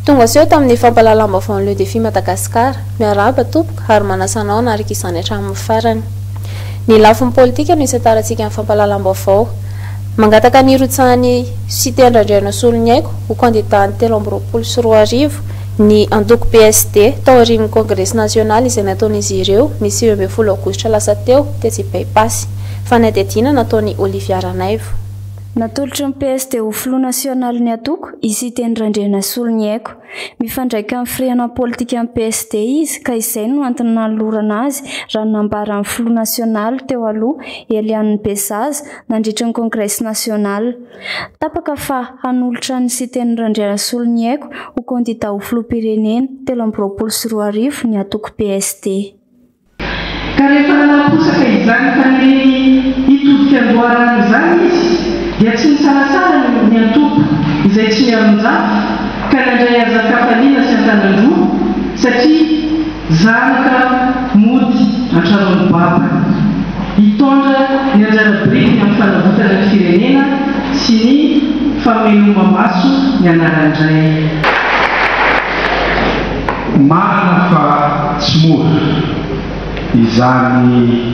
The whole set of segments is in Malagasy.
Tonga seho tamin'ny fampahalalam-baovao ny Le Défi Madagascar. Miarahaba tompoko ary manasa anao hanaraka izany hatramin'ny farany. Ny lafiny politika no isatarantsika ny fampahalalam-baovao. Mangataka ny hirotsahan'i Siteny Randrianasoloniaiko ho kandidà ny telo amby roapolo sy roa arivo Ny antoko PSD, tao aorian'ny kongresy nasionaly izay nataon'izy ireo ny sivy ambin'ny folo aogositra lasa teo dia tsy baipassy. Fanadihadiana nataon'i Olivia Ranaivo. Natolotry ny PSD ho filoha nasionaly ny antoko i Siteny Randrianasolo Niaiko. Mifandraika amin'ny firehanam politikan'ny PSD izy ka izay no antony nanolorana azy raha ny nambaran'ny filoha nasionaly teo aloha Eliane Bezaza nandritry ny kongresy nasionaly. Tapaka fa hanolotra ny Siteny Randrianasolo ny aiko ho kandidà ho filoham-pirenena telo amby roapolo sy roa arivo ny antoko PSD. Ka rehefa nanaposaka izany faniriany hitodika an-doharano izany izy dia tsy nisalasala ny ody ny antoko izay tsy mialonjafy ka nandray azy an-kafaliana sy an-tanan-droa satria Zanaka mody an-tranon'ny babany. Hitondra ny anjara birikiny amin'ny fanavotana ny firenena sy ny fameloma-maso ny anaran'ny Ray. Marina fa tsy mora izany.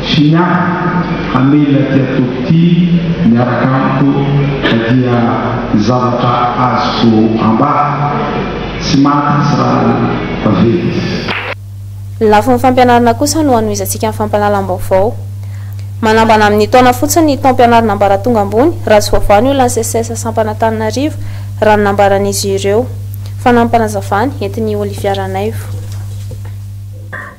Fina a! Hamela ity atody ity miaraka amiko ka dia ny zavatra azoko ambara, tsy maty tsy rà tavela izy. Ny lafiny fampianarana kosa no hanohizantsika ny fampahalalam-baovao. Manambana amin'ny taona fotsiny ny taom-pianarana ambaratonga ambony, raha tsy voavaha ny olan'ny SECES sampan'Antananarivo, raha ny nambaran'izy ireo. Fanamby-panazavana entin'i Olivia Ranaivo.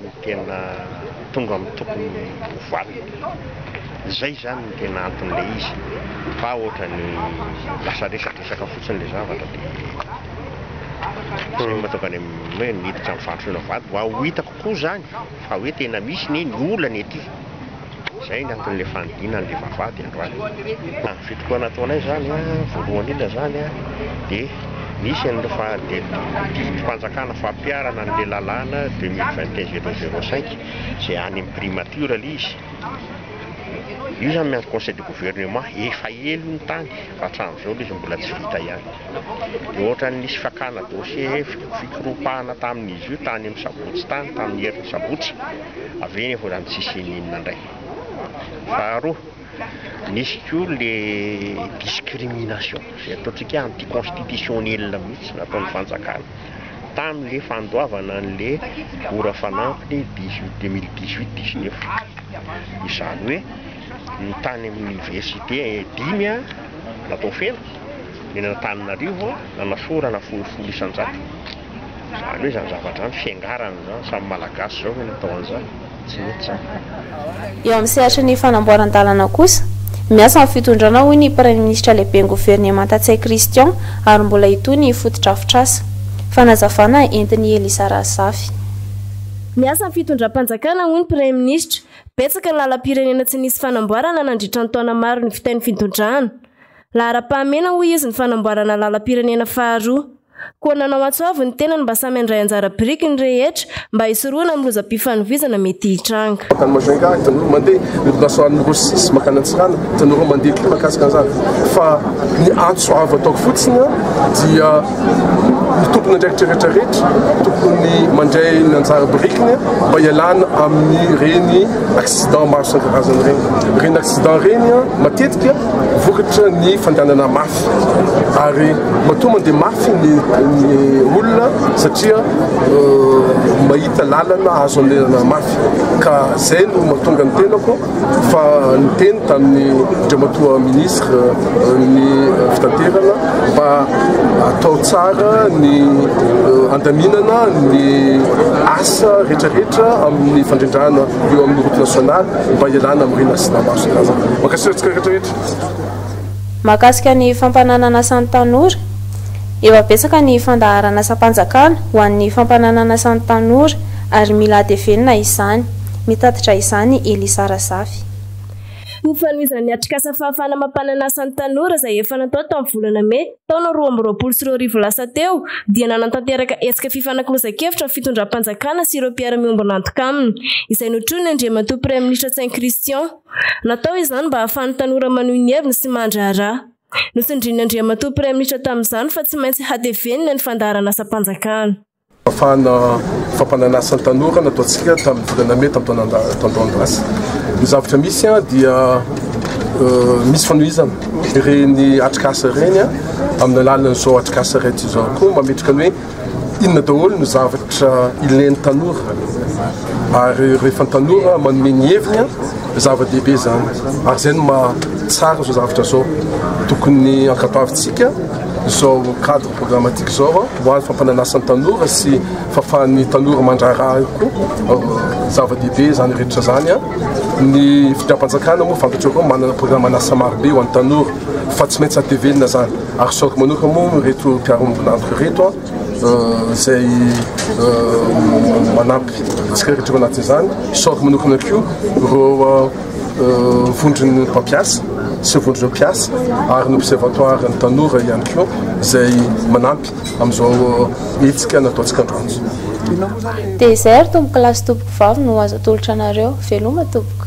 ny tena tonga amin'ny tokony ho valiny. Zay zany ny tena anton'ilay izy fa ohatrany lasa resadresaka fotsiny ilay zavatra dia zay no mahatonga ny hoe niditra ny fandrosoana vady mba ho hitako koa zany fa hoe tena misy ny olana ety. Izay ny anton'ilay fanidina an'ilay vavahady androany. Tamin'ny fitokonana ataonay izany voalohany indrindra izany dia nisy an'ireo didim-panjakana fampiharana an'ilay lalàna deux mille vingt et un zéro zéro cinq izay any amin'ny primature ilay izy. Io izany miandry conseil de gouvernement, efa ela io ny tany fa hatramin'izao ilay izy mbola tsy vita ihany. Dia ohatran'ny nisy fakana dossier, fikoropahana tamin'izy io tany amin'ny sabotsy tany, tamin'ny herin'ny sabotsy. avy eo mbola ny tsisy ininona indray. Faharoa, misy koa le discrimination izay ataontsika anti constitutionnel mihitsy nataon'ny fanjakana tamin'le fandoavana an'le ora fanampiny dix huit deux mille dix huit dix neuf izany hoe ny tany amin'ny université dimy a natao feno ny an'Antananarivo a nanasorana folo folo isan-jato Zany hoe zany zavatra zany fiangarana zany samy malagasy zao ve no atao an'izany? Tsy mety zany. Eo amin'ny sehatry ny fanamboaran-dalana kosa, miasa amin'ny fitondrana hoy ny Praiminisitra Lehiben'ny Governemanta Ntsay Christian ary mbola hitohy ny fotodrafitrasa. Fanazavana entin'i Elisa Razafy. Miasa amin'ny fitondram-panjakana hoy ny Praiminisitra. Betsaka ny lalam-pirenena tsy nisy fanamboarana nandritra ny taona maro nivitain'ny fitondrana. Laharam-pahamena hoy izy ny fanamboarana lalam-pirenena faharoa. Koa nanao antso avo ny tenany mba samy handray anjara biriky ny rehetra mba hisorohana amin'ny lozam-pifanovizana mety hitranga. Mankany Majunga, tanora mandeha ny orinasany Rocis mankany Antsiranana, tanora mandeha koa mahakasika an'izany fa ny antso avo ataoko fotsiny dia ny tompon'andraikitra rehetra rehetra tokony mandray ny anjara birikiny mba hialana amin'ireny accident maro isan-karazany ireny. Ireny accident ireny matetika vokatry ny fandehanana mafy. ary matoa mandeha mafy ny olona satria mahita lalana azo anerana mafy ka zay no mahatonga ny tenako fa niteny tamin'ny dramatoa ministre ny fitaterana mba atao tsara ny andaminana ny asa rehetrarehetra amin'ny fandrindrana eo amin'ny route nationale mba hialana amin'ny rena sy namaso makasitratsika rehetrarehetra Mahakasika ny fampananana asan'ny tanora, Efa betsaka ny fandaharan'asam-panjakana ho an'ny fampananana asan'ny tanora ary mila hatevenina izany, mitatitra izany i Elisa Razafy. Ho fanomezan'ny atrikasa fahafahana mampanana asan'ny tanora izay efa natao tamin'ny volana mey, taona roa amby roapolo sy roa arivo lasa teo, dia nanantanteraka hetsika fifanakalozan-kevitra ny fitondram-panjakana sy ireo mpiara-miombon'antoka aminy, izay notronin'ny Andriamatoa Praiminisitra Tsay Christian. Natao izany mba hahafahan'ny tanora manohy ny heviny sy mandraharaha. Notsindrian'Andriamatoa Praiminisitra tamin'izany fa tsy maintsy hatevenina ny fandaharanasam-panjakana. Fahafahana fampanana asa ny tanora no ataontsika tamin'ny volana mey taon-taon-dasa. Ny zavatra misy dia misy fanohizana ireny atrikasa ireny amin'ny alalan'izao atrikasa iray ity izao koa mametraka ny hoe. inona daholo no zavatra ilain'ny tanora ary rehefa ny tanora manome ny heviny a zava-dehibe izany ary izay no mahatsara izao zavatra izao tokony ankapavintsika izao cadre programmatique izao a ho an'ny fampananasan'ny tanora sy fahafahan'ny tanora mandraharaha koa zava-dehibe izany rehetra izany a ny fitram-panjakana moa fantatrareo manana programme an'asa marobe ho an'ny tanora fa tsy maintsy hatevenina izany Arisoko manoka moa ireto mpiarombon'antoka ireto izay manampy antsika rehetra ao anatin'izany. Arisoko manokana koa ireo vondron'ny mpampiasa sy vondron'ireo mpiasa ary ny observatoire ny tanora ihany koa izay manampy amin'izao hetsika nataontsika androany. Dia izay ary tompokolahy sy tompoko vavy no azo atolotra anareo. Veloma tompoko.